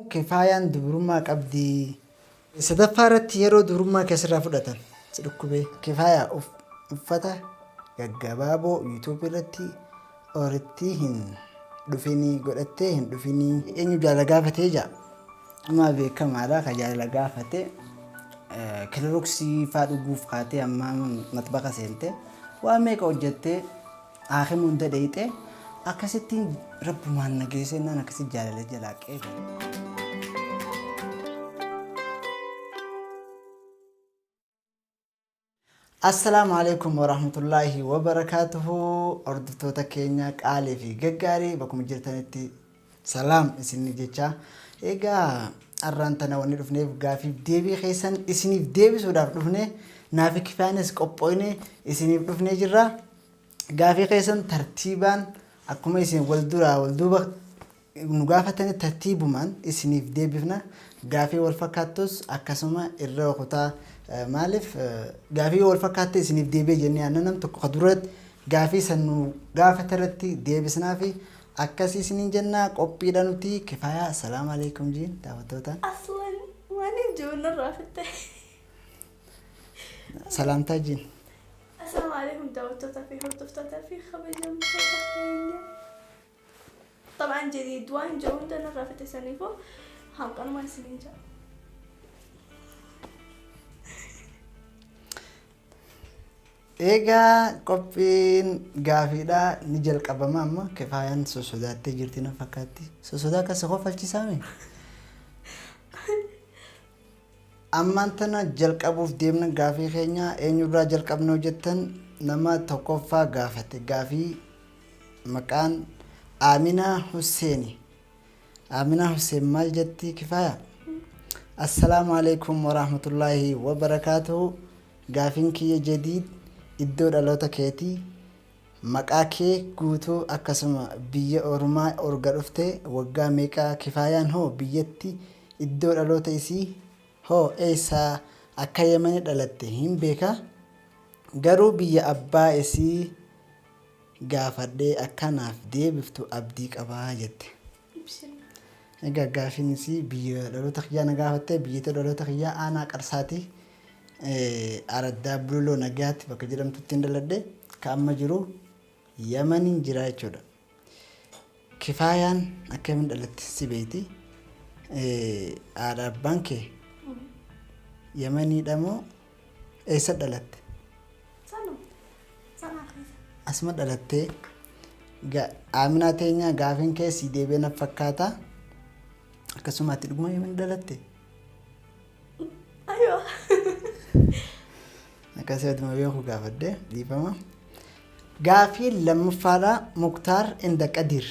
Ok faayaan dubrummaa qabdii. Sadaffaa irratti yeroo dubrummaa kee sirraa fudhatan si dhukkubee. Ok faayaa uff uffata gaggabaaboo YouTube irratti orittii hin dhufinii godhattee hin dhufinii. Eenyu jaalala gaafatee jaa? Amaa beekamaadha ka jaalala gaafate kilaroksii faa dhuguuf kaatee ammaa maxbaqa seente waa meeqa hojjattee Aakhi munda dheyxe akkasittiin rabbumaan na geese jennaan akkasitti jaalala jalaa qeebale. Assalaamu alaikum warahmatullaahi wabarakaatuhu hordoftoota keenya qaalii fi gaggaarii bakkuma jirtanitti Salaam isinni jechaa egaa arraan tana wanni dhufneef gaafiif deebii keessan isiniif deebisuudhaaf dhufne naafi kifaanis qophooyne isiniif dhufnee jirra gaafii keessan tartiibaan akkuma isin wal duraa wal duuba nu gaafatanii tartiibumaan isiniif deebifna gaafii wal fakkaattus akkasuma irra kutaa Eh, maaliif eh, gaafii wal fakkaatte isiniif deebi'e jennee aannan nam tokko ka duratti gaafii san nu gaafate irratti deebisnaa fi Akkasi isinin jennaa qophiidha nuti kifaya Assalam Alaikum jiin daawattoota. Aslan maaliif jiru narraa fitte? Salaamtaa jiin. Assalaamu alaikum daawwattootaa fi hordoftootaa fi kabajamtoota keenya. Xabaan jedhii du'aan jiru hunda narraa fitte saniifuu hanqanumaa isiniin jira. Eegaa qophiin gaafiidhaa ni jalqabama amma kifaayaan sossodaattee jirti na fakkaatti. Sossodaa akka si kofalchisaa mee? Ammaan tana jalqabuuf deemna gaafii keenya eenyurraa jalqabnoo jettan nama tokkoffaa gaafate gaafii maqaan Aaminaa Husseeni. Aaminaa Husseen maal jetti kifaaya? Assalaamu alaikum warahmatullaahi wabarakaatuhu. Gaafin kiyya Jadiid iddoo dhaloota keeti maqaa kee guutuu akkasuma biyya orumaa orga dhufte waggaa meeqa kifaayaan hoo biyyatti iddoo dhaloota isii hoo eessa akka yemani dhalatte hin beeka garuu biyya abbaa isii gaafadhee akka naaf deebiftu abdii qaba jette. ibsina. Egaa gaafiin isii biyya dhaloota kiyyaa na gaafatte biyyatee dhaloota kiyyaa aanaa qarsaati araddaa bululoo nagayaatti bakka jedhamtuttiin dhaladhe ka amma jiru yamanin jiraa jechuudha kifaayaan akkamin dhalatte si beeyti haadha abbaan kee yamaniidha moo Eessa dhalatte? Asuma dhalattee. Ga- Aaminaa teenyaa gaafiin kee sii deebi'ee naf fakkaata. Akkasuma ati dhuguma yoom dhalatte? Ayoo. Akkasii aduma beeku gaafadhe dhiifama. Gaafii lammaffaadha Muktaar inda Qadiir.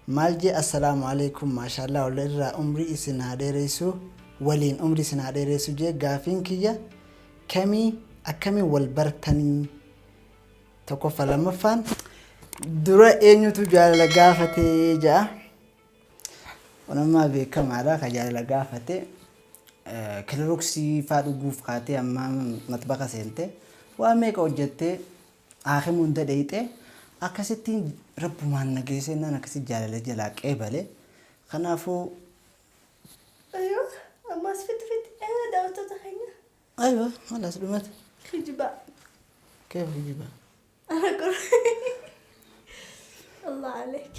Maal jee Assalaamu Aleeykum Maashaallaah wly irraa umrii isin haa dheereysuu waliin umrii isin haa dheereysuu jee gaafiin kiyya kamii akkamiin wal bartanii tokkoffa lammaffaan dura eenyutu jaalala gaafate ja'a kun ammaa beekamaadha ka jaalala gaafate kiloroksii faa dhuguuf kaatee ammaa maxbaka seente waa meeqa hojjattee Aakima hunda dheyxee akkasittiin rabbumaan na geesee naan akkasitti jaalala jalaa qeebale kanaafuu. Aywa ammaas fitti fitti eegaa daawwattoota keenya. Aywa halaas dhumate. Kijibaa. Keef kijibaa. Ana quraan. Allah aleek.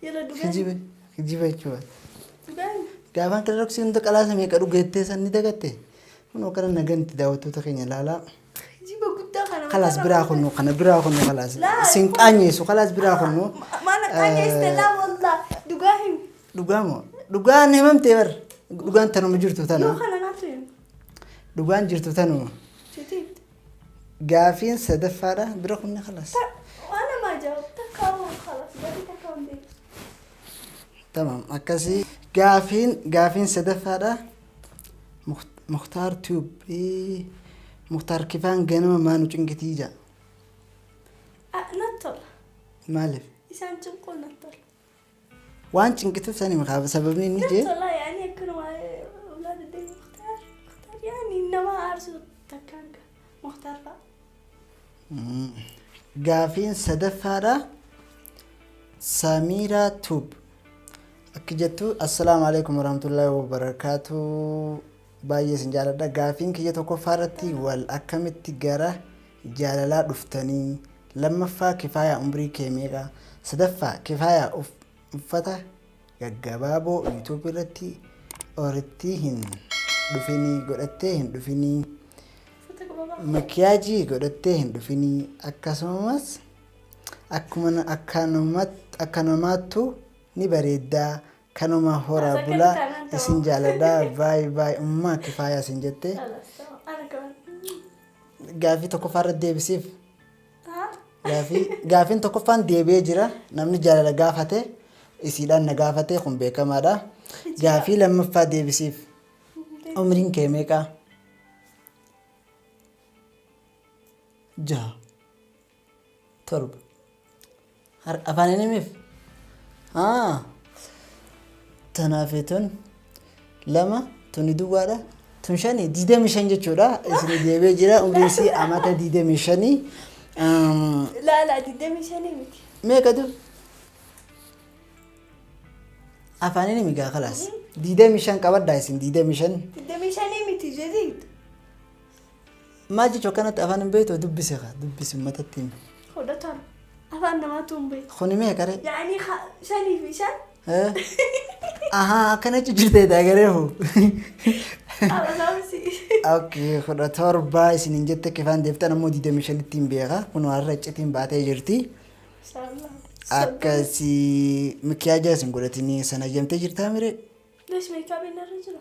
Yalla dugaan. Kijiba kijiba jechuudha. Dugaan. Gaafaan kilaroksii hunda qalaasa meeqa dhugeettee san ni dagatte? Kunoo kana naganti daawwattoota keenya ilaalaa. Kijiba guddaa kana. Kalaas biraa kunnu kana biraa kunnu kalaas. Isin qaanyeessu kalaas biraa kunnu. Maala qaanyeessite laa wallah dhugaa himi. Dhugaa moo? Dhugaan himamtee bar. Dhugaan tanuma jirtu tana. Yoo kana naatu himi. Dhugaan jirtu tanuma. Jetii. Gaafiin sadaffaadha bira kunni kalaas. Waan namaa jaa'u takkaa waan kalas gatii takkaa hin beeku. Tamam akkasii. Gaafiin gaafiin sadaffaadha. Muktar tube Muktar kifaan ganama maa nu cinqitii jaa. Natti tola. Maaliif? Isaan cinquu natti tola. Waan cinqituuf sani makaaf sababni inni jee. Natti tola yaani akkanuma ulaa deddeebi Muktar. Muktar yaani nama aarsu takkaan gaa. Muktar fa'a. Gaafiin sadaffaadha. Samiiraa Tuub. Akki jettu assalaamu alaikum warahmatullahi wabarakaatu. Baay'ee isin jaaladha. Gaafiin kiyya tokkoffaa irratti wal akkamitti gara jaalalaa dhuftanii? Lammaffaa kifaayaa umrii kee meeqa? Sadaffaa kifaayaa uff- uffata gaggabaaboo youtube irratti orittii hin dhufinii godhattee hin dhufinii makiyaajii godhattee hin dhufinii akkasumas akkuma na- akka namat- akka namaattu ni bareeddaa kanuma horaa Akka bulaa bitaa nan ta'u. isin jaaladhaa baay baay ummaa kifaayaa isin jettee Ana kana. gaaffii tokkoffaa irratti deebisiif Gaafii gaafiin tokkoffaan deebi'ee jira namni jaalala gaafate isiidhaan na gaafate kun beekamaadha. Gaafii lammaffaa deebisiif umriin kee meeqa? Jaha torba Har afaan hin himif? Haa. Tanaafee tun lama tuni duwwaadha. Tun shani digdamii shan jechuudha. Isinii deebee jira umriin isii amata digdamii shanii. Um, Laala digdamii shanii miti. meeqa du? Afaan hin himi gaa kalaas. Digdamii shan qabaddaa isin digdamii shan. Digdamii shanii miti jeziit. Maal jechu akkanatti afaan hin beektu dubbise kaa dubbisi ummatatti himi. Hodhataan afaan namaatu hin beeku. Kuni mee qaree. Yaa'anii ha- shanii fi shan Ahaa akkana jechu jirtee daagaree hoo. alasaamsi. Okay, kudha torba isin hin jette kifaan deeftan ammoo digdamii shanitti hin beeka. Kun har'a iccitiin baatee jirti. Inshallah. Akkasii mikiyaajaa isin godhatinii sana jamtee jirtaa miree. Lesh meekaabiin irra jira.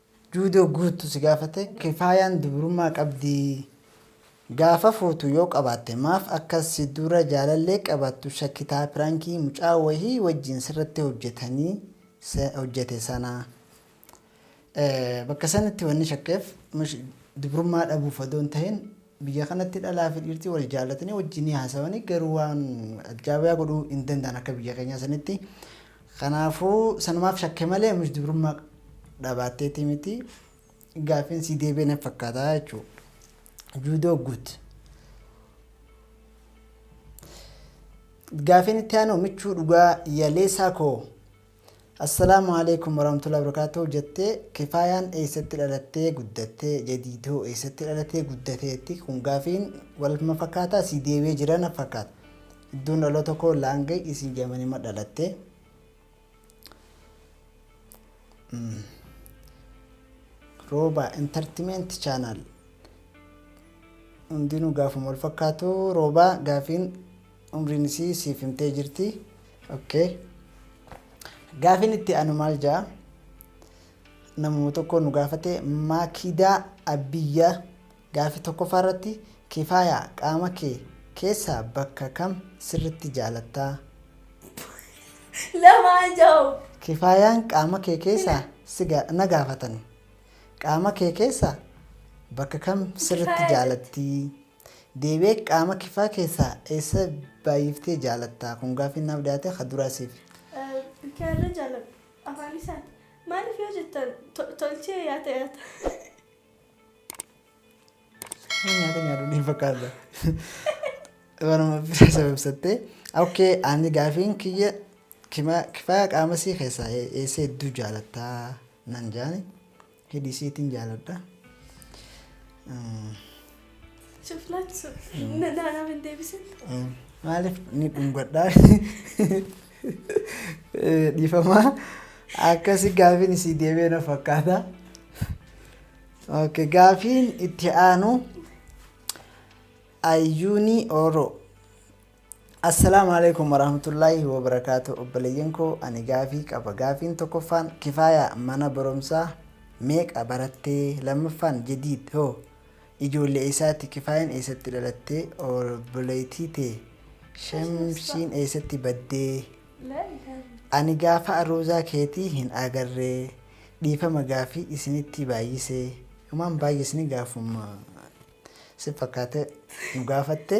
Juudoo guuttu si gaafate kifaayaan dubrummaa qabdii? Gaafa fuutu yoo qabaatte maaf akka si dura jaalallee qabaattu shakkitaa pirankii mucaa wahii wajjin sirratti hojjetanii hojjete sana bakka sanitti wanni shakkeef dubrummaa dhabuuf odoo hin tahin Biyya kanatti dhalaa fi dhiirti wal jaallatanii wajjin ni haasawani garuu waan ajjaabiyaa godhuu hin danda'an akka biyya keenyaa sanitti. Kanaafuu sanumaaf shakke malee ammish dubrummaa dhabaatteetii miti. Gaaffiin sii deebi'e natti fakkaata jechuu. Juudoo guut. Gaaffiin itti aanu michuu dhugaa yaleesaa koo. Assalaamu Aleeykum Warahmatullahi Wabarakaatuh Jettee Kifaayaan Eeysatti Dhalattee Guddatte Jadiidhoo Eeysatti Dhalatee Guddateetti Kun Gaafiin Walma Fakkaataa Sii Deebi'ee Jira Naf Fakkaata Iddoon Dhaloota Koo Laangay Isiin Yamanima Dhalatte Rooba Entertainment Channel Hundinuu Gaafuma Wal Fakkaatu Rooba Gaafiin umriin isii siif himtee jirti ok gaafin itti anu maal ja'a namuma tokko nu gaafate maakidaa abbiyya gaafi tokkoffaa irratti kifaaya qaama kee keessaa bakka kam sirritti jaalattaa Lamaa jahu. kifaayaan qaama kee keessaa si ga- na gaafatan qaama kee keessaa bakka kam sirritti Kifaaya jaalatti Deebi'ee qaama kifaa keessaa eessa baay'iftee jaalatta? Kun gaaffiin naaf dhiyaate ka duraa siifi. Bikaarra jaaladhu. Afaan isaati. Maaliif yoo jettan tolchee yaata yaata. Nama nyaata nyaadhu ni fakkaata. Baruma bira sababsattee. Okkee ani gaafiin kiyya kifaa qaamasii keessaa eessa hedduu jaalatta nan jaani. Hidhi siitin jaaladha. Cuflaatu sun. Na- na- Naaf hin deebisin. Maaliif ni dhungadhaa? Eh, Dhiifamaa akkasi gaafiin isii deebee na fakkaata. Okay, gaafiin itti aanu ayyuuni oro Assalaamu Aleeykum Warahmatullaahi Wabarakaatuh Obboleeyyan koo ani gaafii qaba gaafiin tokkoffaan kifaaya mana baromsaa meeqa barattee lammaffaan jadiid hoo ijoollee eessaati kifaayan eessatti dhalattee obboleeytii tee shamsiin eessatti baddee ani gaafa aruuzaa keetii hin agarree dhiifama gaafii isinitti baayyisee humaan baayyisni gaafuma si fakkaate nu gaafatte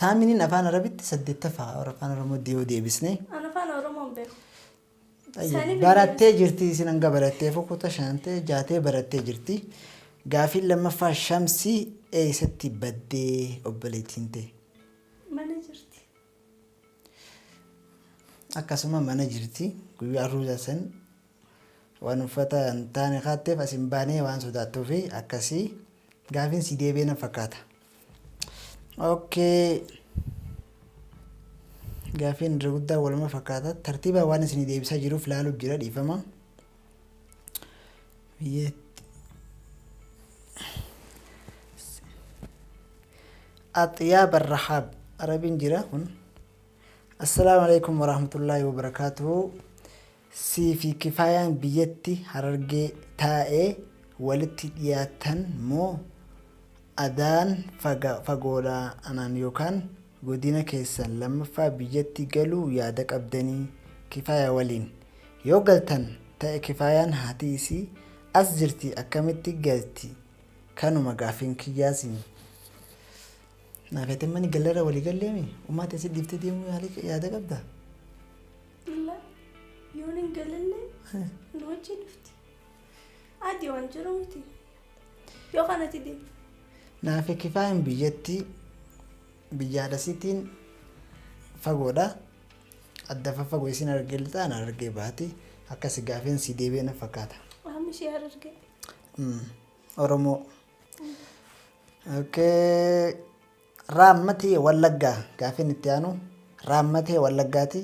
Thaaminiin afaan arabitti saddeettaffaa warra afaan oromootti yoo deebisne An afaan Oromoo hin beeku. Ayyo, Isaanii barattee jirti isin hanga barattee fokuta shantee jaatee barattee jirti gaafiin lammaffaa shamsii eeysatti baddee obboleettiin tee Mana jirti. akkasuma mana jirti guyyaa arruuza san Waan uffata hin taane kaatteef as hin baane waan sodaattuufi akkasi. Gaafiin sii deebi'ee na fakkaata. Okay. Gaafiin irra guddaa waluma fakkaata. Tartiibaan waan isinii deebisaa jiruuf laaluuf jira dhiifama. Biyyeetti. Axiyaa Barrahaab Arabiin jira kun. Assalaamu alaikum warahmatullaahi wabarakaatuhu. Siifi kifaayaan biyyatti harargee taa'ee walitti dhiyaattan moo adaan fagoodha anaan yookaan godina keessan lammaffaa biyyatti galuu yaada qabdanii kifaaya waliin? Yoo galtan ta'e kifaayaan haati isii as jirti akkamitti galti kanuma gaaffiin kiyyaa siin. Naafeetemma ni gallerra walii galleemi ummaa tee si dhiiftee deemuu yaada qabda? Dhulla yoon hin galillee nu wajjin dhufti. Adii waan jiru miti. Yoo kanatti deemte. Naafi kifaayin biyyatti biyyaalasitiin fagoodha. Adda faffagoo isin argee lixaan argee baati. Akka si gaafeen si deebi'e na fakkaata. Amma ishee hararge. Mm. Oromoo. Okay. Raammati Wallaggaa Gaaffiin itti aanu Raammatee Wallaggaati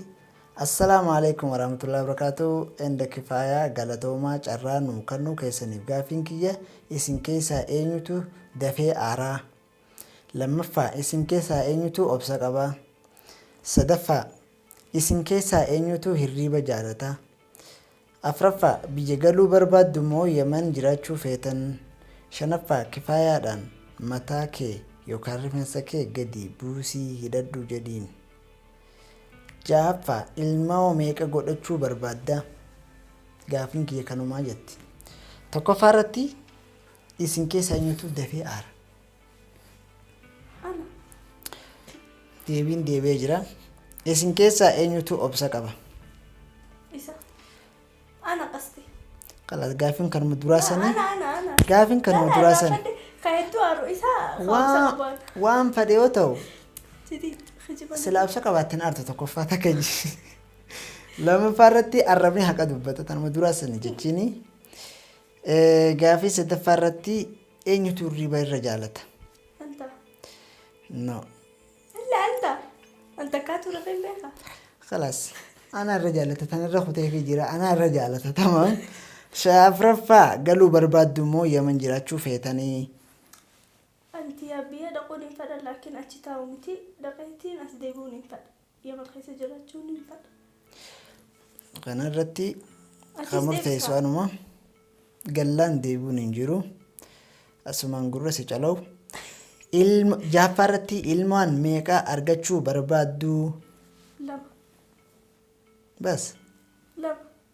Assalaamu Aleeykum Waraamatullaahi Wabarakaatuhu Enda Kifaaya Galatoomaa Carraa nuu kannuu keessaniif Gaaffiin kiyya isin keessaa eenyutu dafee aaraa? Lammaffaa isin keessaa eenyutu obsa qaba? Sadaffaa isin keessaa eenyutu hirriiba jaalata? 4ffaa Biyya galuu barbaaddu moo Yaman jiraachuu feetan? 5ffaa Kifaayaadhaan mataa kee yookaan rifensa kee gadi buusii hidhadhu jedhiin. 6ffaa Ilmoo meeqa godhachuu barbaadda? Gaaffiin kiyya kanumaa jetti. 1ffaa irratti isin keessaa eenyutu dafee aara? Deebiin deebi'ee jira. Isin keessaa eenyutu obsa qaba? Isa. Ana qasti. Kalas gaaffiin kanuma duraa sanii. Ana ana ana. Gaaffiin kanuma Ana duraa irraa sanii. fadde Ka hedduu aaru isaa ka'umsa Waan qabaan. waan fedhe yoo ta'u Siti kijiban. silaa obsa qabaattan aartu tokkoffaa takka ji- lammaffaa irratti arrabni haqa dubbata tanuma duraa sanii jechiini. Gaaffii sadaffaa irratti eenyutu hirriba irra jaalata? Anta. No. Illa anta. Anta kaatu rafe hin beeka. Kalaas. Anaa irra jaalata tan irra kuteefii jira anaa irra jaalata tamam. Shafraffaa galuu barbaaddu moo yaman jiraachuu feetanii? Anti yaa biyya dhaquun hin fedha laakiin achi taa'u miti dhaqeetiin as deebi'uun hin fedha. Yemen keessa jiraachuun ni ulfaata. Kana irratti kan Achiis murteessu deebisaa. anuma gallaan deebi'uun hin jiru. Asumaan gurra si calawu. Ilma jaaffaa irratti ilmaan meeqa argachuu barbaaddu? Lama. Bas. Lama.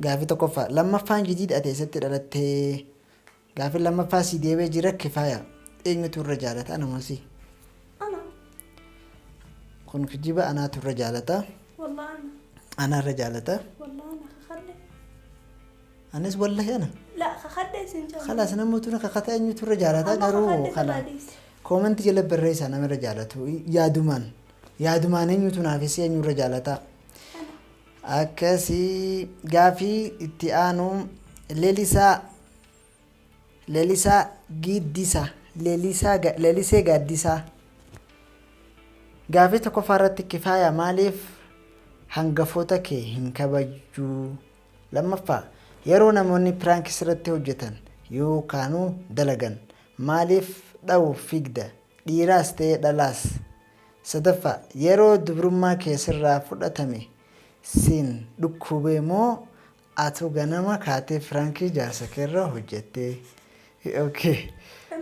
Gaafii tokkoffaa. Lammaffaan jidiid ati eessatti dhalattee? Gaafin lammaffaa sii deebee jira kifaaya. Eenyutu irra jaalata ana moo si? Ana. Kun kijiba anaatu irra jaalata. Wallah ana. Ana irra jaalata. Wallah ana kakadhe. Anis wallahi ana. La kakadhe sin jaalata. Kalaas namoota na kakata eenyutu irra jaalata Amma garuu kakadhe kana kalaadis. koomanti jala barreessaa nama irra jaalatu yaadumaan yaadumaan eenyutu naafis eenyu irra jaalata. Ana. Akkasi. Gaaffii itti aanu Lelisaa Lelisaa Giiddisa Lelisaa Ga- Lelisee Gaaddisaa Gaaffii tokkoffaa irratti kifaaya maaliif hangafoota kee hin kabajjuu? Lammaffaa yeroo namoonni piraank sirratti hojjetan yookaanuu dalagan maaliif dha'uuf fiigda? Dhiiraas ta'ee dhalaas. 3ffaa. Yeroo dubrummaa kee sirraa fudhatame siin dhukkubee moo atu ganama kaatee prank jaarsa keerra hojjattee? ok.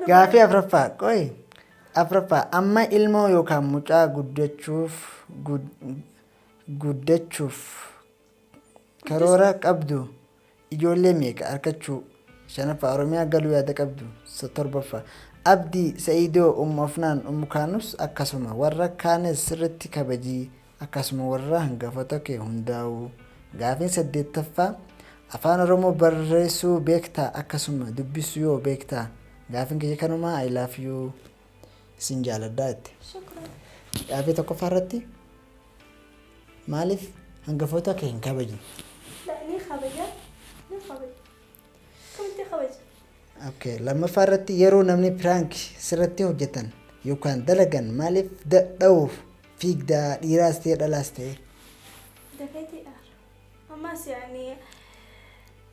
Gaafii 4ffaa qoyi 4ffaa. Amma ilmoo yookaan mucaa guddachuuf guddachuuf Karoora qabdu? Ijoollee meeqa arkachuu? 5ffaa Oromiyaa galuu yaada qabdu? 7ffaa Abdi, Sa'idoo, Ummu Afnaan, Ummu Kaanus akkasuma warra kaanes sirritti kabajii akkasuma warra hangafota kee hundaa'uu. Gaafiin 8ffaa Afaan Oromoo barreessuu beektaa akkasuma dubbisu yoo beektaa? Gaafin kiyya kanumaa I love you. Isin jaaladhaa jette. Shukran. Gaafii tokkoffaa irratti maaliif hangafoota kee hin kabajne? La ni kabaja. Ni kabaja. Akkamitti kabaja? Okay. Lammaffaa irratti yeroo namni piraank sirratti hojjetan yookaan dalagan maaliif da- dha'uuf fiigdaa dhiiraas ta'e dhalaas ta'e? Dafeeti dhaara. Ammas yaani